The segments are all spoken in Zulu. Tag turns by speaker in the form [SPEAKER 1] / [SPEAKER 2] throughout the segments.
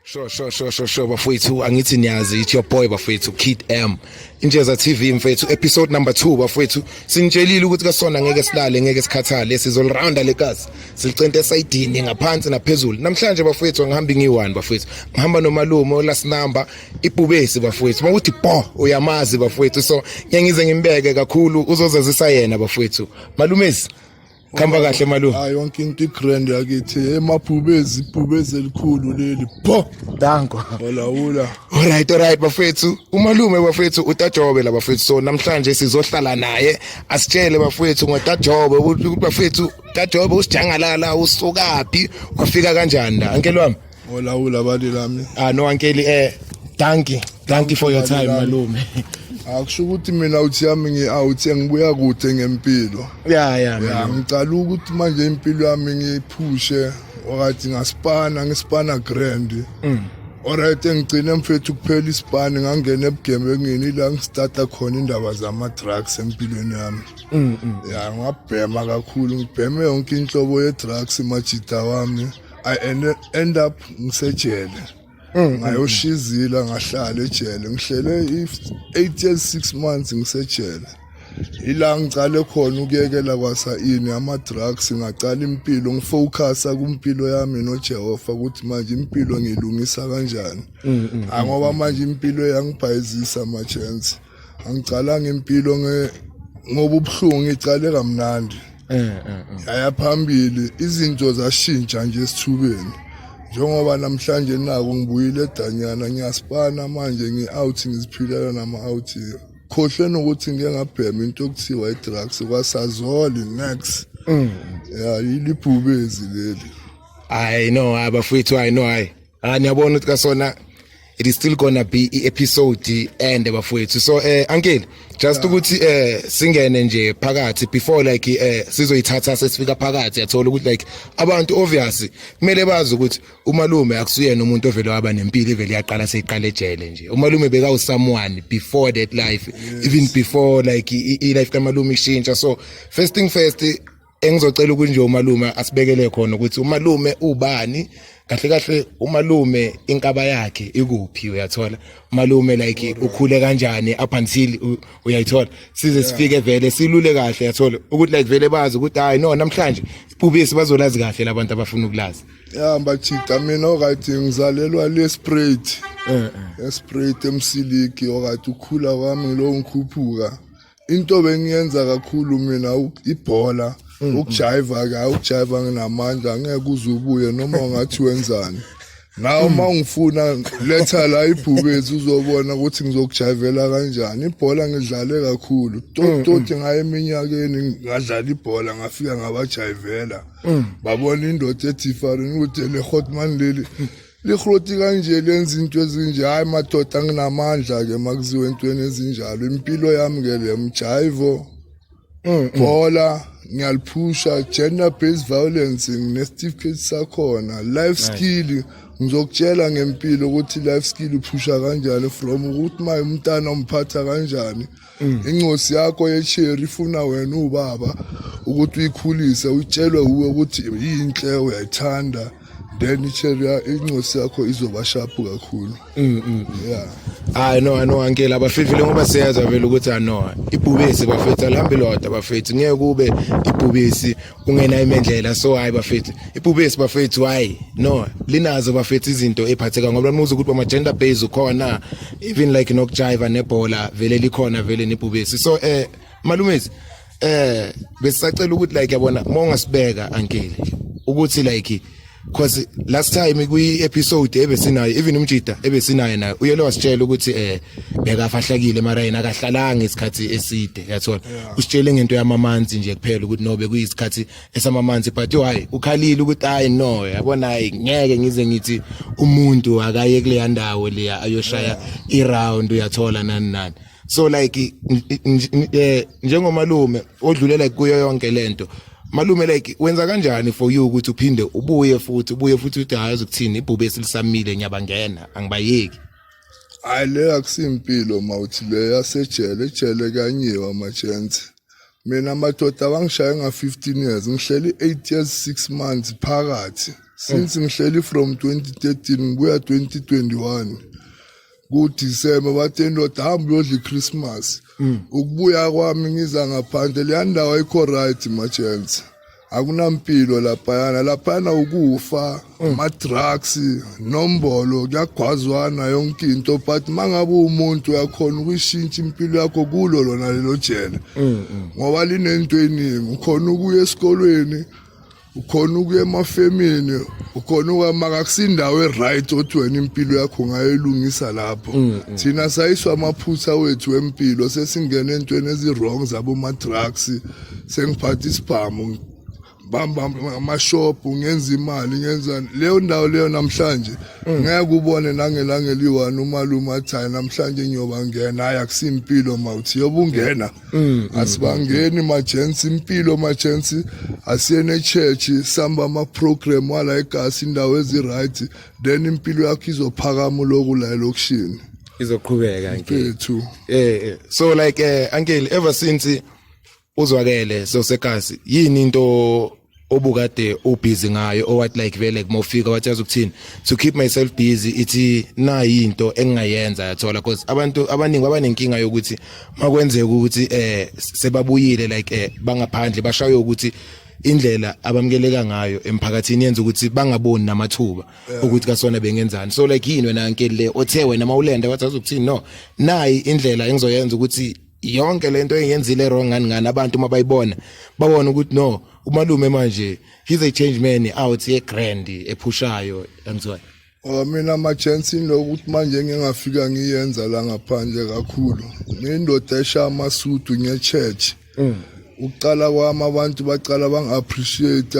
[SPEAKER 1] Sure, sure, sure, sure, sure, bafowethu angithi niyazi it's your boy bafowethu Kid M. Injeza TV mfethu episode number 2 bafowethu sinitshelile ukuthi kasona ngeke silale ngeke sikhathale sizolirounda lekazi silicente esayidini ngaphansi naphezulu namhlanje bafowethu ngihamba ngiyi-1 bafowethu ngihamba nomalume olast number ibhubesi bafowethu mawuthi bo uyamazi bafowethu so ngiyangize ngimbeke kakhulu uzozazisa yena bafowethu malumezi Khamba kahle malume. Hayi yonke into igrand
[SPEAKER 2] yakithi emabhubezi ibhubezi elikhulu leli. Pho. Danko.
[SPEAKER 1] Olawula.
[SPEAKER 2] Alright alright
[SPEAKER 1] bafethu. Umalume bafethu utajobe la bafethu. So namhlanje sizohlala naye asitshele bafethu ngotajobe ukuthi bafethu tajobe usijangalala usukaphi wafika kanjani la. Ankelwami. olawula abali
[SPEAKER 2] lami ah no ankeli eh
[SPEAKER 1] thank you thank you for your time malume akusho ukuthi
[SPEAKER 2] mina uthi yami ngi-out ngibuya kude ngempilo ya ya
[SPEAKER 1] ngicala ukuthi
[SPEAKER 2] manje impilo yami ngiyiphushe okathi ngasipana ngisipana grand mm. Alright engigcine mfethu kuphela isibani ngangena ebugemengini la ngistarta khona indaba zama drugs empilweni yami. Mhm. Ya ngabhema kakhulu ngibheme yonke inhlobo ye drugs majita wami. i end- end up ngisejele Mm, ngayoshizila ngahlala ejele ngihlele i- eight years six months ngisejele ila ngicale khona ukuyekela kwasayini ama-drugs ngacala impilo ngifowukhasa kwimpilo yami nojehova ukuthi manje impilo ngiyilungisa kanjani angoba manje impilo yangibhayizisa ama-chance angicalanga impilo ngoba ubuhlungu ngicale kamnandi eh, eh, eh. yaya phambili izinto zashintsha nje esithubeni njengoba namhlanje naku ngibuyile edanyana ngiyasipana manje ngi-out ngiziphilela nama-out khohlwe nokuthi ngike ngabhema into okuthiwa i-drugs kwasazoli next mm. ya yilibhubezi leli hayi no
[SPEAKER 1] hayi bafowethu hayi no hayi ah niyabona ukuthi kasona it is still gonna be i-episode ende bafowethu so eh uncle just ukuthi eh singene nje phakathi before like eh sizoyithatha sesifika phakathi yathola ukuthi like abantu obvious kumele bazi ukuthi umalume akusuyena umuntu ovele waba nempilo ivele yaqala seyiqala ejele nje umalume beka u someone before that life even before like i life kamalume ishintsha so first thing first engizocela ukuthi nje umalume asibekele khona ukuthi umalume ubani kahle kahle umalume inkaba yakhe ikuphi uyathola umalume like ukhule kanjani up until uyayithola size sifike vele silule kahle uyathola ukuthi like vele bazi ukuthi hayi no namhlanje ibhubisi bazolazi kahle labantu abafuna ukulazi ya mbachica
[SPEAKER 2] mina okathi ngizalelwa le sprate eh, eh. esprit emsiliki okathi ukhula kwami lo ngikhuphuka into bengiyenza kakhulu mina ibhola mm, mm. ukujayiva ka ukujayiva nginamandla ngeke uze ubuye noma ungathi wenzani nawe uma mm. ungifuna letha la ibhubezi uzobona ukuthi ngizokujayivela kanjani ibhola ngidlale kakhulu toti ngayo eminyakeni ngadlala ibhola ngafika ngabajayivela babona indoda ethi ifarini ukuthi le hotman leli lihroti kanje lenza into ezinje hayi madoda nginamandla-ke makuziwe entweni ezinjalo impilo yami-ke le mjaivo mm, mm. bhola ngiyaliphusha gender based violence nginestifiketi sakhona life skill ngizokutshela ngempilo ukuthi life skill uphusha kanjani from ukuthi maye umntana umphatha kanjani Mm. incosi yakho yesheri ifuna wena ubaba ukuthi uyikhulise utshelwe uwe ukuthi yinhle uyayithanda then isheri incosi yakho izoba sharp kakhulu mm, mm, yeah
[SPEAKER 1] hayi no no ankela abafifile ngoba siyazwa vele ukuthi ano ibhubesi bafethu alihambi lodwa bafethu ngeke kube ibhubesi ungena imendlela so hayi bafethu ibhubesi bafethu hayi no linazo bafethu izinto ephatheka ngoba nimuza ukuthi bama gender base ukhona even like nokujiva nebhola vele likhona vele nebhubesi so eh malumezi eh besisacela ukuthi like yabona uma ungasibeka ankele ukuthi like cause last time kwi episode ebesinayo even umjida ebesinayo naye uyele wasitshela ukuthi eh bekafahlakile mara yena akahlalanga isikhathi eside yathola usitshele ngento yamamanzi nje kuphela ukuthi no bekuyisikhathi esamamanzi but why ukhalile ukuthi hayi no yabona hayi ngeke ngize ngithi umuntu akaye kuleya ndawo leya ayoshaya i round uyathola nani nani so like eh, njengomalume odlule like kuyo yonke lento malume like wenza kanjani for you ukuthi uphinde ubuye futhi ubuye futhi uthi hayi uzokuthini ibhube esilisamile ngiyabangena angibayeki hayi
[SPEAKER 2] le akusimpilo mawuthi le yasejele ejele kanyiwe amajensi mina amadoda abangishaye nga-15 years ngihleli 8 years 6 months phakathi since ngihleli from 2013 kuya 2021 kuDisemba bathi indoda hamba uyodla iChristmas mm. ukubuya kwami ngiza ngaphandle leya ndawo ayikho right machance akunampilo laphayana laphayana ukufa mm. ama-drugs nombolo kuyagwazwana yonke into but uma ngabe umuntu uyakhona ukuyishintsha impilo yakho kulo lona lelo jele mm, ngoba linento eningi ukhona ukuya esikolweni ukhona ukuya emafemini ukhona ukwamaka kusindawo eright othi wena impilo yakho ungayelungisa lapho mm, mm. thina sayiswa amaphutha wethu empilo sesingena entweni ezi-wrong zaboma-drugs sengiphatha isibhamu bamba amashop ngenza imali ngenzani leyo ndawo leyo namhlanje mm. ngeke ubone nangelanga eliyi-one umalume athayi namhlanje ngiyoba ngena hayi akusimpilo mawuthi yoba ungena Mm, asibangeni majensi impilo majensi asiyene church samba ama program wala egasi indawo eziright then impilo yakho izophakama lokhu la elokushini izoqhubeka
[SPEAKER 1] mfethu
[SPEAKER 2] eh, eh so
[SPEAKER 1] like eh uncle ever since uzwakele so segasi yini into obukade ubusy ngayo owathi like vele kumofika wathi yazi ukuthini to keep myself busy ithi nayi into engingayenza yathola because abantu abaningi babanenkinga yokuthi makwenzeka ukuthi eh sebabuyile like eh bangaphandle bashaye ukuthi indlela abamukeleka ngayo emphakathini yenza ukuthi bangaboni namathuba ukuthi kasona bengenzani so like yini wena nkeli le othe wena mawulenda wathi azokuthini no nayi indlela engizoyenza ukuthi yonke lento engenzile wrong ngani ngani abantu uma bayibona babona ukuthi no umalume manje he's a change man out ye grand ephushayo yangizwa Oh mina ama
[SPEAKER 2] chance lokuthi manje ngingafika ngiyenza la ngaphandle kakhulu. Ngindoda esha amasudu nge church. Mm. ukuqala kwami abantu baqala bangi-appreciate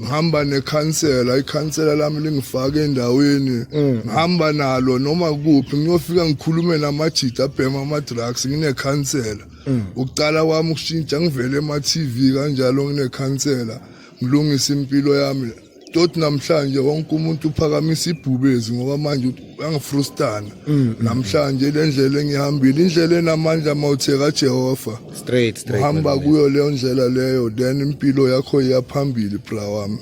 [SPEAKER 2] ngihamba nekhansela ikhansela lami lingifake endaweni mm. ngihamba nalo noma kuphi ngiyofika ngikhulume namajita abhema ama-drugs nginekhansela mm. ukuqala kwami ukushintsha ngivele ema-tv kanjalo nginekhansela ngilungise impilo yami Doti namhlanje wonke umuntu uphakamisa ibhubezi ngoba manje uyangifrustana mm, mm, mm. namhlanje le ndlela engihambile indlela enamandla uma uthe kajehova straight straight uhamba
[SPEAKER 1] kuyo leyo
[SPEAKER 2] ndlela leyo then impilo yakho iyaphambili bra wami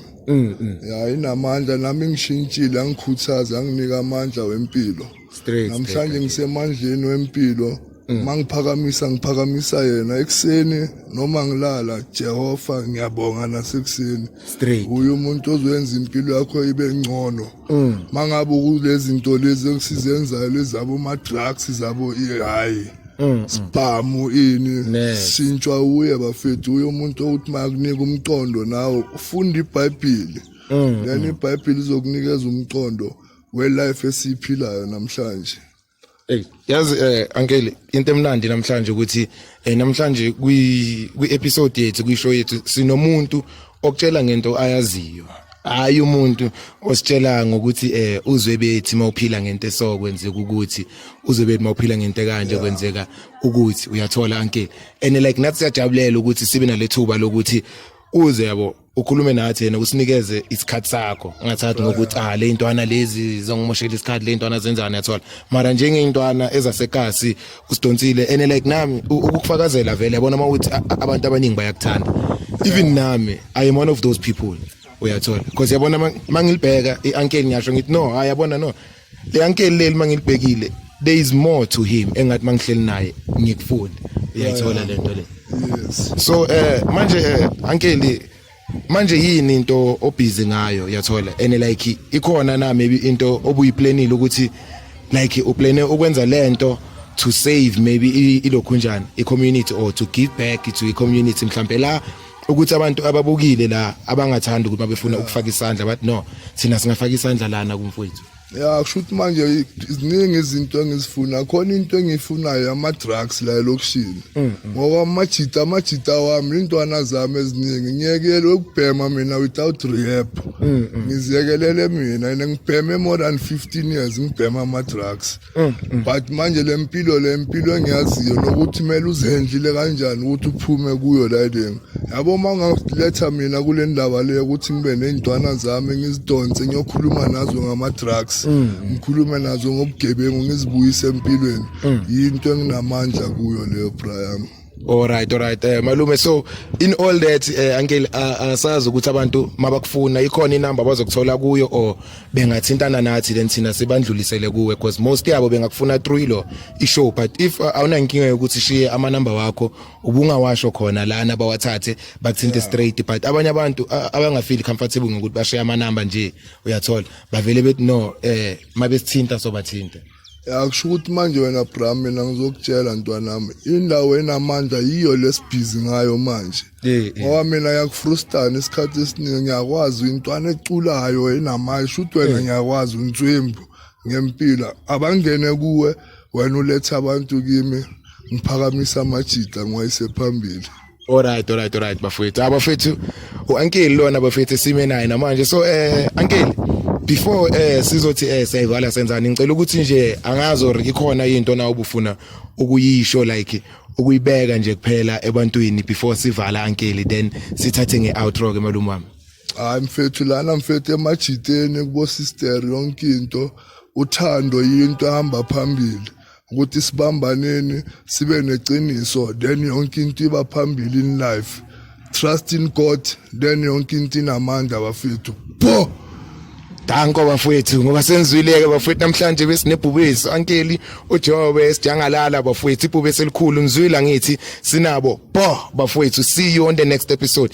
[SPEAKER 2] ya inamandla nami ngishintshile angikhuthaza anginika amandla wempilo Straight. namhlanje ngisemandleni wempilo mangiphakamisa ngiphakamisa yena ekuseni noma ngilala Jehova ngiyabonga nasekuseni Straight. uye umuntu ozoyenza impilo yakho ibe ngcono mangabe kulezi zinto lezi okusizenzayo lezabo ma drugs zabo i- hayi sibhamu ini Neze. sintshwa uye bafethu uye umuntu okuthi makunika umqondo nawe ufunda ibhayibhili then ibhayibhili izokunikeza umqondo we life esiphilayo namhlanje Hey,
[SPEAKER 1] yazi eh ankele into emnandi namhlanje ukuthi eh namhlanje kwi kwi episode yethu kwi show yethu sinomuntu okutshela ngento ayaziyo hayi umuntu ositshela ngokuthi eh uzwe bethi mawuphila ngento esokwenzeka ukuthi uzwe bethi mawuphila ngento kanje kwenzeka ukuthi uyathola anke and like nathi siyajabulela ukuthi sibe nalethuba lokuthi uze yabo ukhulume nathi yena usinikeze isikhathi sakho ungathathi ngokuthi ah le ntwana lezi zongimoshela isikhathi le ntwana zenzani yathola mara njenge intwana ezasekasi usidonsile and like nami u- ukukufakazela vele yabona uma uthi a- a- abantu abaningi bayakuthanda even nami i am one of those people uyathola because yabona ma- mangilibheka i-ankeni ngiyasho ngithi no hayi yabona no le ankeli leli mangilibhekile there is more to him engathi mangihleli naye ngikufunda uyayithola lento le yes so eh manje eh ankeli manje yini into obhizi ngayo yathola and like ikhona na maybe into obuyiplanile ukuthi like uplane ukwenza lento to save maybe ilokhunjani i community or to give back to i community mhlambe la ukuthi abantu ababukile la abangathandi ukuthi babefuna ukufaka isandla bathi no thina singafaka isandla lana kumfowethu ya kusho ukuthi manje
[SPEAKER 2] ziningi izinto engizifuna khona into engiyifunayo ama-drugs la elokishini mm, mm. ngoba amajita amajita wami iy'ntwana zami eziningi ngiyekele ukubhema mina without rehab mm, ngiziyekelele mina and ngibheme more than fifteen years ngibhema ama-drugs Mm, mm. but manje le mpilo le mpilo engiyaziyo nokuthi kumele uzendlile kanjani ukuthi uphume kuyo layideni yabo uma ungaletha mina kule ndaba leyo ukuthi ngibe ney'ntwana zami ngizidonse ngiyokhuluma nazo ngama-drugs mm, ngikhulume nazo ngobugebengu ngizibuyise empilweni yinto enginamandla kuyo leyo brayami All
[SPEAKER 1] right all right eh malume so in all that eh uncle asazi ukuthi abantu mabakufuna ikhona inamba bazokuthola kuyo or bengathintana nathi then thina sibandlulisele kuwe because most yabo bengakufuna through lo ishow but if uh, awuna inkinga yokuthi shiye ama number wakho ubungawasho khona lana bawathathe bakuthinte straight but abanye abantu uh, abangafeel comfortable ngokuthi bashiye ama number nje uyathola bavele bethi no eh mabesithinta sobathinta ya kusho ukuthi
[SPEAKER 2] manje wena bra mina ngizokutshela ntwanami indawo enamandla yiyo lesibhizi ngayo manje Eh, eh. ngoba mina yakufrustana isikhathi esiningi ngiyakwazi intwana eculayo enamayi shuthi wena ngiyakwazi unswembu ngempila abangene kuwe wena ulethe abantu kimi ngiphakamisa amajita ngiwayise phambili Alright alright alright
[SPEAKER 1] bafethu. Ah bafethu uAnkeli lona bafethu sime naye namanje. So eh Ankeli before eh sizothi eh siyayivala senzani ngicela ukuthi nje angazi or ikhona into na ubufuna ukuyisho like ukuyibeka nje kuphela ebantwini before sivala Ankeli then sithathe ngeoutro ke malume wami. Hayi mfethu
[SPEAKER 2] lana mfethu emajiteni kubo sister yonke into uthando yinto ehamba phambili. ukuthi sibambaneni sibe neqiniso then yonke into iba phambili in life trust in god then yonke into inamandla bafethu pho Danko
[SPEAKER 1] bafowethu ngoba senzwileke bafowethu namhlanje besinebhubesi ankeli uJobe esijangalala bafowethu ibhubesi elikhulu ngizwile ngithi sinabo bo bafowethu see you on the next episode